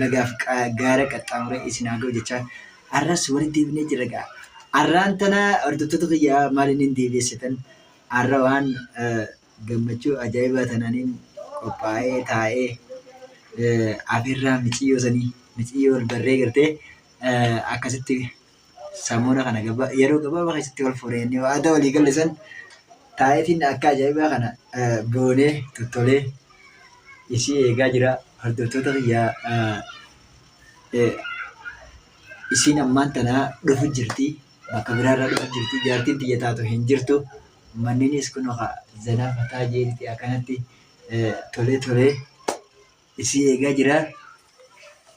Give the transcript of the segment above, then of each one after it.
lagaaf gaara qaxxaamuree isin haa ga'u jechaa arras walitti deebinee jirra gaa. Arraan tana hordoftoota kiyyaa maaliin hin deebi'essitan arra waan gammachuu ajaa'ibaa tananiin qophaa'ee taa'ee afeerraa miciyyoo sanii miciyyoo barree gartee akkasitti Samuuna kana gaba- yeroo gabaabaa keessatti wal fuune jennee waadaa walii galle san taa'eetiin akka ajaa'ibaa kana eh, boonee tottolee isii eegaa jira hordoftoota kiyyaa eh, eh, isiin ammaan tanaa dhufu jirti bakka biraarraa dhufu jirti jaartiin tiyya taatu hin jirtu manninis kun oka zanaa fataa jeeriti akkanatti eh, tolee tolee isii eegaa jira.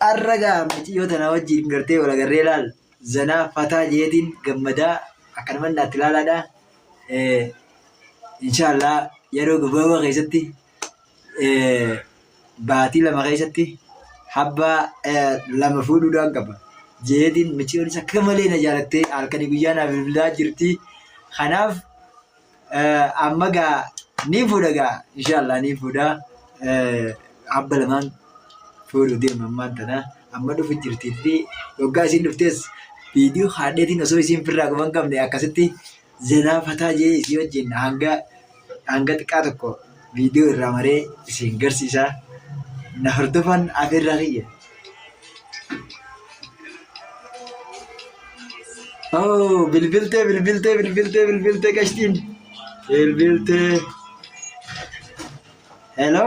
Har'a gaa maciyyoo tanaa wajjin gartee wal agarree laal zanaa fataa jeetiin gammadaa akkanuman naatti laalaadha. Eh, Inshaallah yeroo gabaabaa keessatti eh, baatii lama keessatti habbaa eh, lama fuudhuudhaan qaba. Jeetiin maciyyoonis akka malee na jaalattee halkanii guyyaa naaf bilbilaa jirti. Kanaaf amma gaa ni fuudha gaa inshaallah ni fuudha abba lamaan fuudhu deema ammaan tana amma dhufu jirtii fi waggaa isiin dhuftees viidiyoo haadheetiin osoo isiin firraa guban qabne akkasitti zenaa fataa jee isii wajjin hanga hanga xiqqaa tokko video irraa maree isin garsiisaa na hordofaan afeerraa kiyya. Oh, bilbiltee bilbiltee bilbiltee bilbiltee qashtiin bilbiltee. Hello.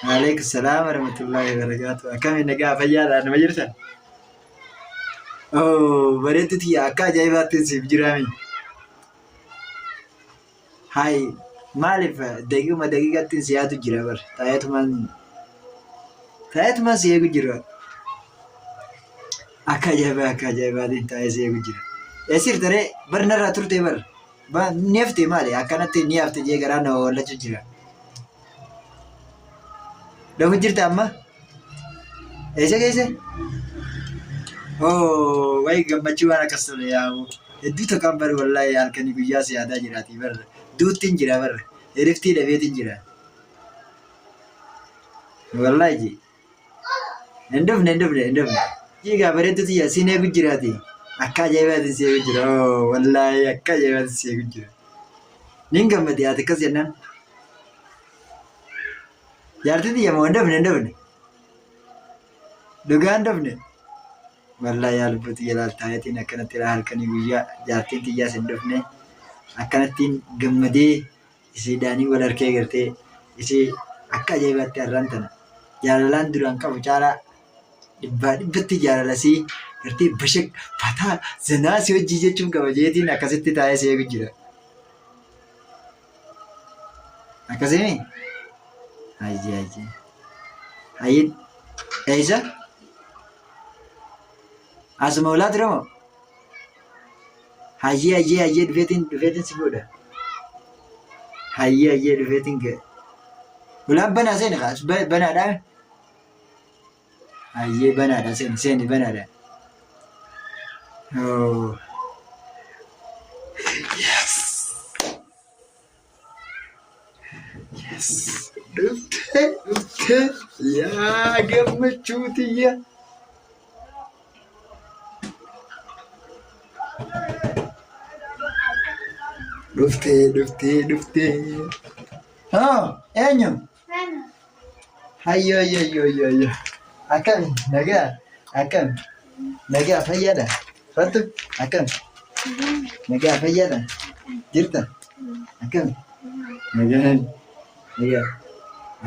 Waalaikum salaam warahmatullahi wabarakatuh. Akkami nagaa fayyaadha nama jirtan? Oh, bareetti tiyya akka ajaa'ibaatti siif jiraami. Hay maaliif daqiiquma daqiiqattiin si yaadu jira bar taa'eetumaan taa'eetumaan si eegu jira. Akka ajaa'ibaa akka ajaa'ibaatiin taa'ee si eegu jira. Eessir taree bar narraa turtee bar ba ni haftee maali akkanatti ni hafte jee garaa na wawallachuu jira. Dhabu jirta amma? Eessa geesse? Oo, wayi gammachuu waan akkas tole yaa'u. Hedduu takkaan bari wallaahi halkanii guyyaa si yaadaa jiraatii barra. Duuttiin jira barra. Eriftii dhabeetiin jira. Wallaahi ji. Hin dhufne hin dhufne hin dhufne. Jiigaa bareedduu tiyya siin eegu jiraati. Akka ajaa'ibaatiin si eegu jira. Oo, wallaahi akka ajaa'ibaatiin si eegu jira. Niin gammade ati akkas jennaan. Jaartii tiyya moo hin dafne hin dafne. Dhugaa hin dafne. Wallaa yaa lubbuu tiyya laaltaayetiin akkanatti irraa halkanii guyyaa jaartiin tiyyaas hin dafne. Akkanattiin gammadee isiidhaanii wal harkee gartee isii akka ajaa'ibaatti har'aan tana. Jaalalaan duraan qabu caalaa dhibbaa dhibbatti jaalalasii gartee bashaq fataa zanaa si hojii jechuun kabajeetiin akkasitti taa'ee si eegu jira. Akkasii mi? Hayyee hayyee. Hayyee eessa? Asuma olaa ture moo? Hayyee hayyee hayyee dhufeetiin dhufeetiin si fuudha. Hayyee hayyee dhufeetiin ga'e. Ulaan banaa seeni kaas banaadhaa. Hayyee banaadha seeni seeni banaadha. Oh. Yes. Yes. Dhuftee dhuftee yaa gammachuu tiyya. Dhuftee dhuftee dhuftee. Haa eenyu? Hayyo hayyo hayyo hayyo hayyo. Akkami nagaa akkami nagaa fayyaadha fattu akkami nagaa fayyaadha jirta akkami nagaa nagaa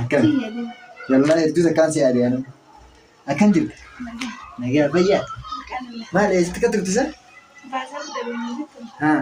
akkami yallaa hedduu takkaan si yaade anu akkam jirta nagaa fayyaa maal eessitti ka turtisa haa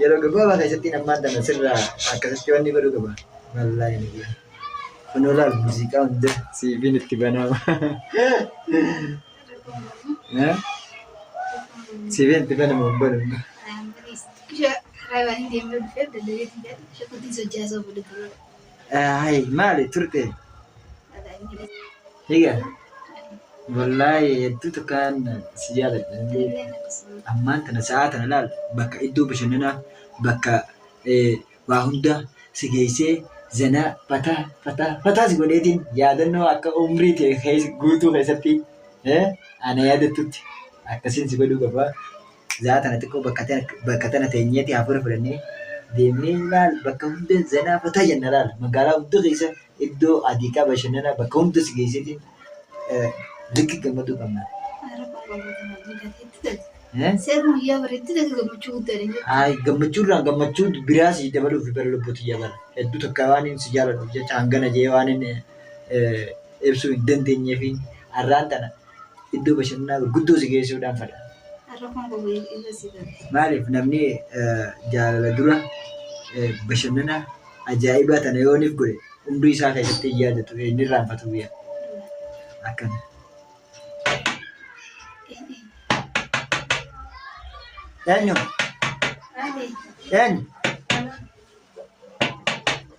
Yeroo gabaabaa keessatti ammaan tana sirraa akkasitti wanni godhu qaba. Wallaahi inni kun. Kunoo laal muuziqaa hunda siiviin itti banaama. Siiviin itti banamu hin banu. Kusha raaywaanii deemee dhufee daddabeetii jedhu shakuutiin sochaasaa oolu dura. Ay maali turte? Higa wallaahi hedduu takkaan si jaaladha. Ammaan tana sa'aa tana laal bakka iddoo bashannanaa bakka eh, waa hundaa si geessee zanaa fataa fataa fataa si godheetiin yaadannoo akka umrii tee keessa- guutuu keessatti eh, ana yaadattutti akkasiin si godhuu qaba. zaa tana xiqqoo bakka tana bakka tana teenyeeti hafuura fudhannee deemnee laal bakka hunda zanaa fataa jenna laal magaalaa hunda keessa iddoo adiiqaa bashannanaa bakka hunda si geessiti likki gammaduu qabna. Eh? Seerri guyyaa bareetti ta'e gammachuu guddaan hin jiru. Ay, gammachuu irraa gammachuu biraa si dabaluuf bara lubbuutti jabala. Hedduu takka waan inni si jaaladhuuf jecha hangana jee waan inni eh, ibsuu hin dandeenyeefiin har'aan tana iddoo bashannanaa gurguddoo si geessuudhaan fadha. Har'a kun gogu irra si gala. Maaliif namni jaalala dura bashannana ajaa'ibaa tana yooniif godhe umrii isaa keessatti hin yaadatu hin irraanfatu biyya akkana. Eenyu? Eenyu?